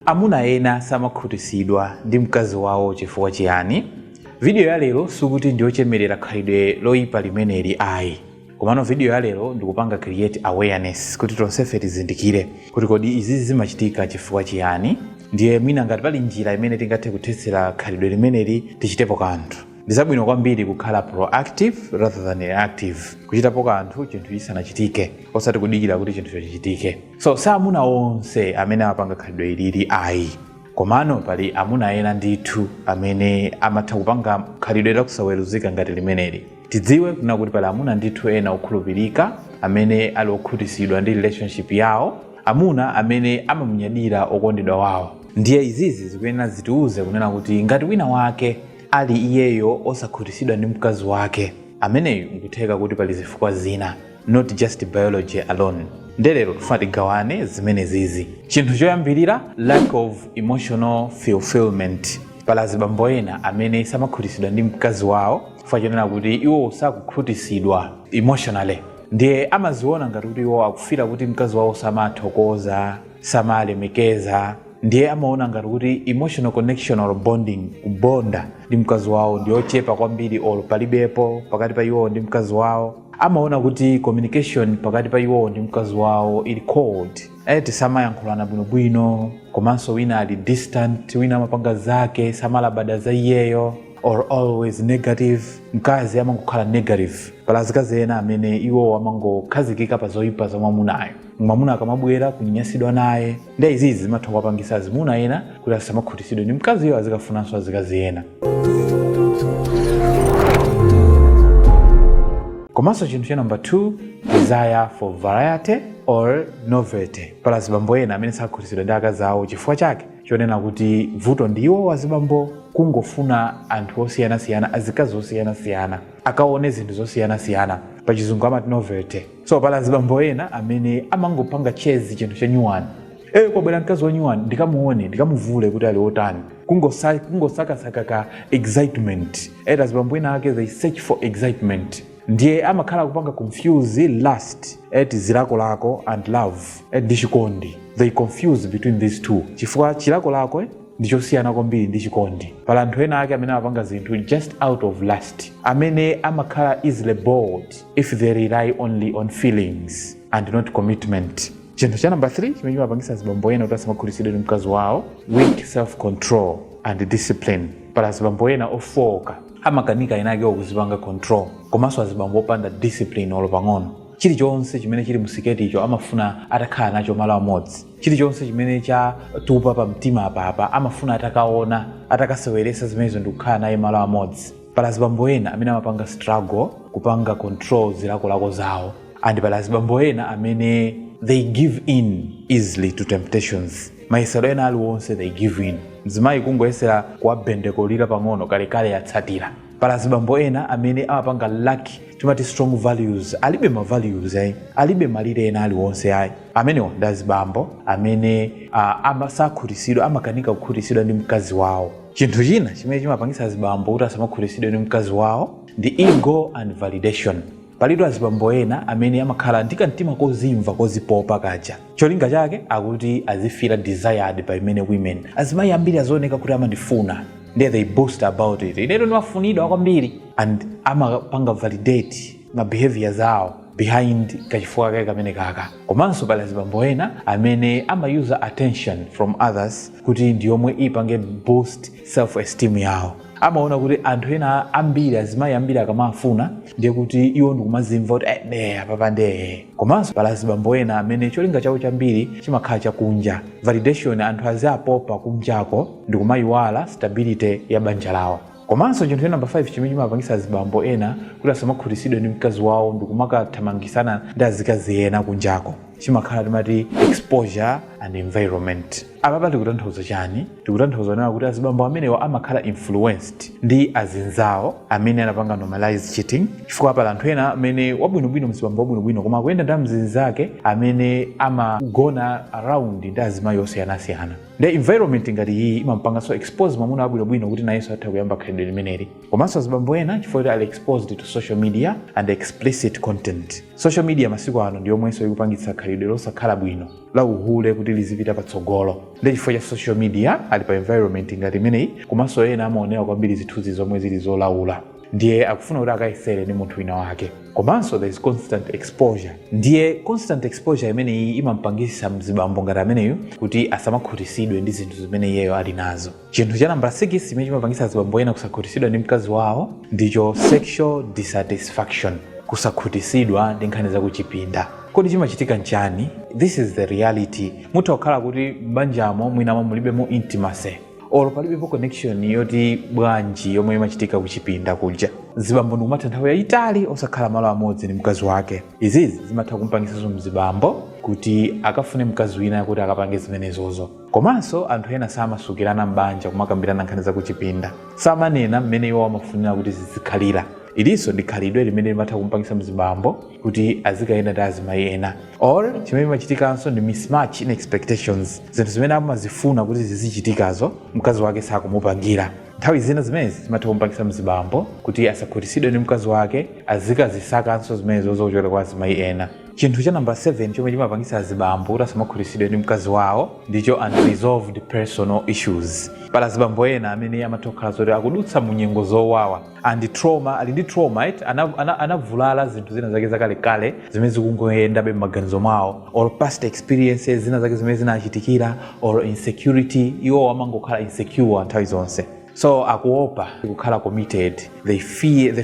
Amuna ena samakhutisidwa ndi mkazi wawo chifukwa chiyani? Video ya lero sikuti ndiyochemelera khalidwe loyipa limeneli ayi. Komano video ya lero ndikupanga create awareness kuti tonsefe tizindikire kuti kodi izizi zimachitika chifukwa chiyani ndiye mwina ngati pali njira imene tingathe kuthetsera khalidwe limeneli tichitepo kanthu. Ndizabwino kwambiri kukhala proactive rather than reactive, kuchitapo kanthu chinthu chisanachitike osati kudikira kuti chinthucho chichitike. so si amuna onse amene amapanga khalidwe ilili ayi komano pali amuna ena ndithu amene amatha kupanga khalidwe lakusaweruzika ngati limeneli tidziwe kunena kuti pali amuna ndithu ena okhulupirika amene ali okhutisidwa ndi relationship yawo amuna amene amamunyadira okondedwa wawo ndiye izizi zikuyenera zitiuze kunena kuti ngati wina wake ali iyeyo osakhutisidwa ndi mkazi wake ameneyu nkutheka kuti pali zifukwa zina not just biology alone nde lero tifuna tigawane zimenezizi chinthu choyambirira lack of emotional fulfillment pali azibambo ena amene samakhutisidwa ndi mkazi wawo chifukwa chonena kuti iwo sakukhutisidwa emotionally ndiye amadziona ngati kuti iwo akufila kuti mkazi wawo samathokoza samalemekeza ndiye amaona ngati kuti emotional connection or bonding kubonda ndi mkazi wawo ndiyochepa kwambiri or palibepo pakati pa iwowo ndi mkazi wawo amaona kuti communication pakati pa iwowo ndi mkazi wawo ili cold eti samayankhulana bwinobwino komanso wina ali distant wina amapanga zake samalabada za iyeyo or always negative mkazi amangokhala negative pali azikazi ena amene iwowo amangokhazikika pa zoyipa za mwamunayo mwamuna akamabwera kunyasidwa naye nde izizi zimatha kuwapangisa azimuna ena kuti asamakhutisidwe ndi mkaziyo azikafunanso azikazi ena komanso chinthu cha namba 2 desire for variety or novelty pali azibambo ena amene sakhutisidwa ndi akazi awo chifukwa chake chonena kuti vuto ndi iwo azibambo kungofuna anthu osiyanasiyana azikazi osiyanasiyana akaone zinthu zosiyanasiyana pachizungu amati novelty so pali azibambo ena amene amangopanga chase chinthu chanyuwani eyo kwabwera mkazi wanyuwani ndikamuone ndikamuvule kuti ali otani Kungosa- kungosakasaka ka excitement ena azibambo ena ake they search for excitement ndiye amakhala akupanga confuse lust eti zilakolako and love eti ndi chikondi they confuse between these two chifukwa chilakolako eh, ndi chosiyana kwambiri ndi chikondi pali anthu ena ake amene amapanga zinthu just out of lust amene amakhala easily bored if they rely only on feelings and not commitment chinthu cha number 3 chimene chimapangisa azibambo ena kuti asamakhutitsidwe ndi mkazi wawo weak self control and discipline pali azibambo ena ofooka amakanika enaakewo kuzipanga control komanso azibambo opanda discipline olo pang'ono chilichonse chimene chili mu siketicho amafuna atakhala nacho malo amodzi chilichonse chimene chatupa pa mtima apapa amafuna atakaona atakaseweresa zimenezo ndikukhala naye malo amodzi pali azibambo ena amene amapanga struggle kupanga control zilakolako zawo and pali azibambo ena amene they give in easily to temptations mayesero ena aliwonse they give in mzimayi kungoyesera kuwabendekolira pang'ono kalekale yatsatira pali azibambo ena amene amapanga lack timati strong values alibe ma values ayi alibe malire ena aliwonse ayi amenewo ndi azibambo amene sakhutisidwa amakanika kukhutisidwa ndi mkazi wawo chinthu china chimene chimapangitsa azibambo kuti asamakhutitsidwe ndi mkazi wawo ndi ego and validation palitu azibambo ena amene amakhala ndi kamtima kozimva kozipopa kaja cholinga chake nchakuti azi feel desired by many women azimayi ambiri azioneka kuti amandifuna ndiye they boast about it inetu ndimafunidwa kwambiri and amapanga validate mabehavior awo behind kachifukwa kake kameneka komanso pali azibambo ena amene amayuza attention from others kuti ndi yomwe ipange boost self esteem yawo amaona kuti anthu ena ambiri azimayi ambiri akamawafuna ndiye kuti iwo ndikumazimva kuti eh, ine apapa nde komanso pali azibambo ena amene cholinga chawo chambiri chimakhala chakunja validation anthu aziapopa kunjako ndikumayiwala stability ya banja lawo Komanso chinthu cha number 5 chimene chimapangitsa azibambo ena kuti asamakhutisidwe ndi mkazi wawo ndikumakathamangisana ndi azikazi ena kunjako chimakhala timati exposure and environment. Apapa tikutanthauza chani? Tikutanthauza kunena kuti azibambo amenewa amakhala influenced ndi azinzawo amene anapanga normalize cheating chifukwa pali anthu ena amene wabwinobwino mzibambo wabwinobwino koma akuyenda ndi amzinzake amene amagona around ndi azimayi osiyanasiyana. nde environment ngati iyi imampanganso expose mwamuna wabwinobwino kuti nayenso atha kuyamba khalidwe limeneli komanso azibambo ena chifukwa choti ali exposed to social media and explicit content social media masiku ano ndi yomwenso ikupangitsa khalidwe losakhala bwino la uhule kuti lizipita patsogolo nde chifukwa cha social media ali pa environment ngati imeneyi komanso ena amaonera kwambiri zithunzi zomwe zili zolaula ndiye akufuna kuti akayesere ndi munthu wina wake komanso there is constant exposure ndiye constant exposure imeneyi imampangisa mzibambo ngati ameneyu kuti asamakhutisidwe ndi zinthu zimene iyeyo ali nazo chinthu cha nambala 6 chimene chimapangisa azibambo ena kusakhutisidwa ndi mkazi wawo ndicho sexual dissatisfaction kusakhutisidwa ndi nkhani zakuchipinda kodi chimachitika nchani this is the reality itha kukhala kuti m'banjamo mwinamo mulibemo intimacy olo palibepo connection yoti bwanji yomwe imachitika kuchipinda kuja mzibambo n'kumatha nthawi yayitali osakhala malo amodzi ndi mkazi wake izizi zimatha kumpangisanso mzibambo kuti akafune mkazi wina kuti akapange zimenezozo komanso anthu ena samasukirana m'banja kumakambirana nkhani zakuchipinda samanena mmene iwo amafunira kuti zizikhalira ilinso ndi khalidwe limene limatha kumpangisa mzibambo kuti azikayenda ndi azimayi ena chimene chimachitikanso ndi mismatch in expectations zinthu zimene amazifuna kuti zizichitikazo mkazi wake sakumupangira nthawi zina zimenezi zimatha kumpangisa mzibambo kuti asakhutisidwe ndi mkazi wake azikazisakanso zimenezo zochokera kwa azimayi ena chinthu cha namba 7 chomwe chimapangisa azibambo kuti asamakhutisidwe ndi mkazi wawo ndicho unresolved personal issues pali azibambo ena amene amatha kukhala zoti akudutsa mu nyengo zowawa and trauma ali ndi trauma eti anavulala zinthu zina zake zakale kale zimene zikungoyendabe m'maganizo mwawo or past experiences zina zake zimene zinachitikira or insecurity iwo amangokhala insecure nthawi zonse so akuopa kukhala committed the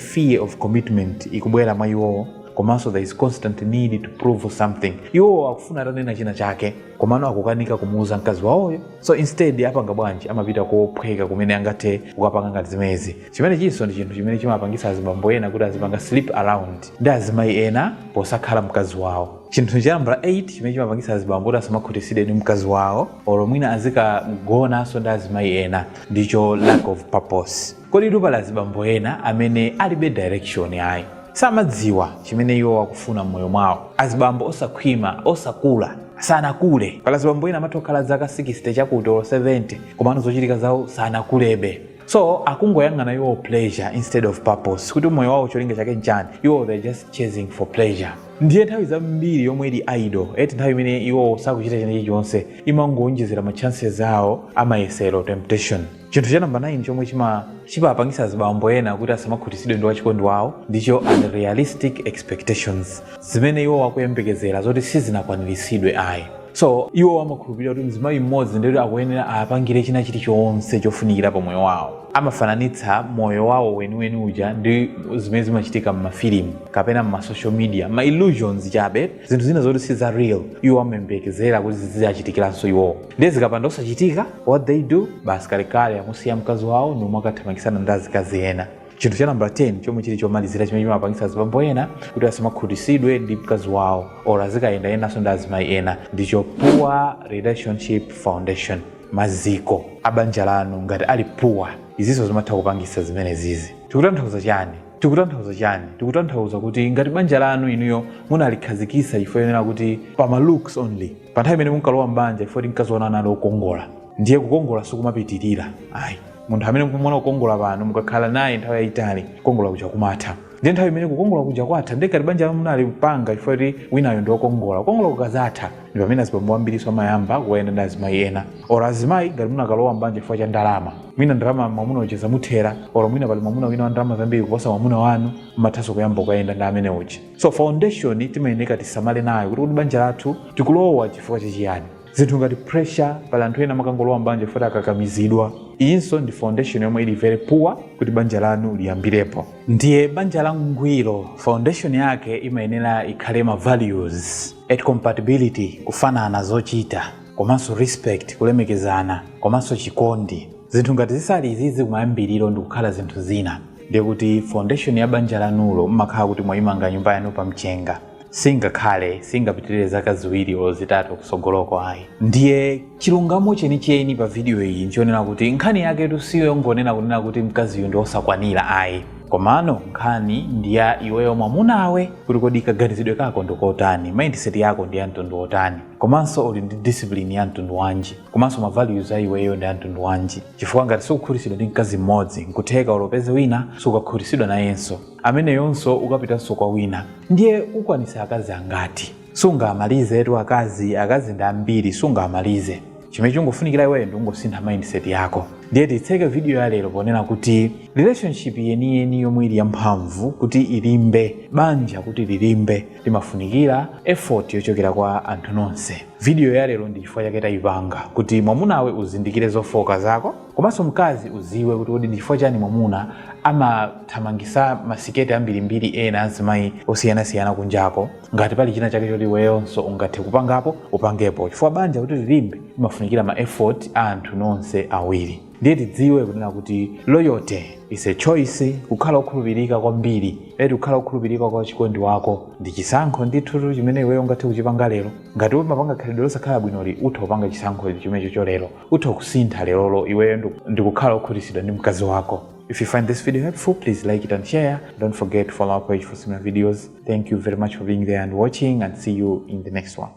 fear of commitment ikubwera mwa iwowo komanso there is constant need to prove something iwowo akufuna atanena china chake komano akukanika kumuuza mkazi wawoyo so instead apanga bwanji amapita kophweka kumene angathe kukapanga ngati zimenezi chimene chilinso ndi chinthu chimene chimapangitsa azibambo ena kuti azipanga sleep around ndi azimayi ena posakhala mkazi wawo chinthu cha nambala 8 chimene chimapangitsa azibambo kuti asamakhutitsidwe ndi mkazi wawo olo mwina azikagonanso ndi azimayi ena ndicho lack of purpose Kodi tu pali azibambo ena amene alibe direction ayi. Samadziwa chimene iwo akufuna mmoyo mwawo. Azibambo osakhwima, osakula, sanakule. Pali azibambo ena amatha kukhala zaka 60 chakuti olo 70 komano zochitika zawo sanakulebe. So akungoyang'ana iwowo pleasure instead of purpose kuti moyo wawo cholinga chake nchani, iwowo they are just chasing for pleasure. Ndiye nthawi zambiri yomwe ili idle, eti nthawi imene iwowo sakuchita china chilichonse, imangoonjezera ma chances awo a mayesero, temptation. chinthu cha namba 9 chomwe chimapangisa azibambo ena kuti asamakhutisidwe ndi wachikondi wawo ndicho unrealistic expectations zimene iwo wakuyembekezera zoti sizinakwaniritsidwe ayi so iwo amakhulupirira kuti mzimayi mmodzi ndiyoti akuyenera awapangire china chilichonse chofunikira pa moyo wawo amafananitsa moyo wawo weniweni uja ndi zimene zimachitika m'mafilimu kapena m'masocial media ma illusions chabe zinthu zina zoti si za real iwo amayembekezera kuti ziziachitikiranso iwowo ndiye zikapanda osachitika what they do basi kalekale amusiya mkazi wawo nomwe akathamangitsana ndi azikazi ena chinthu cha nambala 10 chomwe chili chomalizira chimene chimapangitsa azibambo ena kuti asamakhutitsidwe ndi mkazi wawo or azikayendanso ndi azimayi ena ndicho poor relationship foundation maziko a banja lanu ngati ali poor izinso zimatha kupangitsa zimenezizi tikutanthauza chani tikutanthauza chani tikutanthauza kuti ngati banja lanu inuyo munalikhazikitsa chifukwa chonena kuti pama looks only Pa nthawi imene munkalowa m'banja, chifukwa choti mkaziwanu anali okongola, ndiye kukongola sikumapitilira ayi. Munthu amene mukumuona kukongola pano, mukakhala naye nthawi yayitali, kukongola kuja kumatha. Ndiye nthawi imene kukongola kuja kwatha, ndiye ngati banja lanu munalipanga chifukwa choti winayo ndi okongola, kukongola kukadzatha, ndi pamene azibambo ambiriso amayamba kukayenda ndi azimayi ena. Or azimayi ngati munakalowa m'banja chifukwa cha ndalama, mwina ndalama mwamuna uja zamuthera, or mwina pali mwamuna wina wa ndalama zambiri kuposa mwamuna wanu, mumathanso kuyamba kukayenda ndi amene uja. so foundation timayeneka tisamale nayo kuti kuti banja lathu tikulowa chifukwa chachiyani zinthu ngati pressure pali anthu ena amakangolowa mbanja chifukwa choti akakamizidwa iyinso ndi foundation yomwe ili very poor kuti banja lanu liyambirepo ndiye banja la ngwiro foundation yake imayenera ikhale ma values a compatibility kufanana zochita komanso respect kulemekezana komanso chikondi zinthu ngati zisali zizi kumayambiriro ndikukhala zinthu zina ndiye kuti foundation ya banja lanulo mmakhala kuti mwayimanga nyumba yanu pa mchenga singakhale singapitirire zaka ziwiri olo zitatu kusogoloko ayi ndiye chilungamo chenicheni pa vidiyo iyi n'choonera kuti nkhani yaketu si yongonena kunena kuti mkaziyu ndi osakwanira ayi komano nkhani ndi ya iweyo mwamunawe kuti kodi kaganizidwe kako ndikotani mindset yako ndi ya mtundu wotani komanso uli ndi discipline ya mtundu wanji komanso ma values a iweyo ndi a mtundu wanji chifukwa ngati sukukhutitsidwa ndi mkazi mmodzi nkutheka olo upeze wina sukakhutitsidwa nayenso ameneyonso ukapitanso kwa wina ndiye ukwanitsa akazi angati sungamalizetu akazi akazi ndi ambiri sungamalize chimene chingofunikira iweyo ndi kungosintha mindset yako ndiye titseke video ya lero ponena kuti relationship yeniyeni yomwe ili yamphamvu kuti ilimbe banja kuti lilimbe Limafunikira effort yochokera kwa anthu nonse. Video ya lero ndi chifukwa chake tayipanga kuti mwamunawe uzindikire zofooka zako komanso mkazi uziwe kuti kodi ndi chifukwa chani mwamuna amathamangisa masiketi ambirimbiri ena azimayi osiyanasiyana kunjako ngati pali china chake choti iweyonso ungathe kupangapo upangepo chifukwa banja kuti lilimbe limafunikira ma effort a anthu nonse awiri ndiye tidziwe kunena kuti loyalty is a choice kukhala okhulupirika kwambiri eti kukhala okhulupirika kwa wachikondi wako ndi chisankho ndithu chimene iweyo ungathe kuchipanga lero ngati umapanga khalidwe losakhala bwinoli utha kupanga chisankho chimenecho lero utha kusintha leroli iweyo ndi- ndi kukhala okhutitsidwa ndi mkazi wako If you find this video helpful, please like it and share. Don't forget to follow our page for similar videos. Thank you very much for being there and watching, and see you in the next one.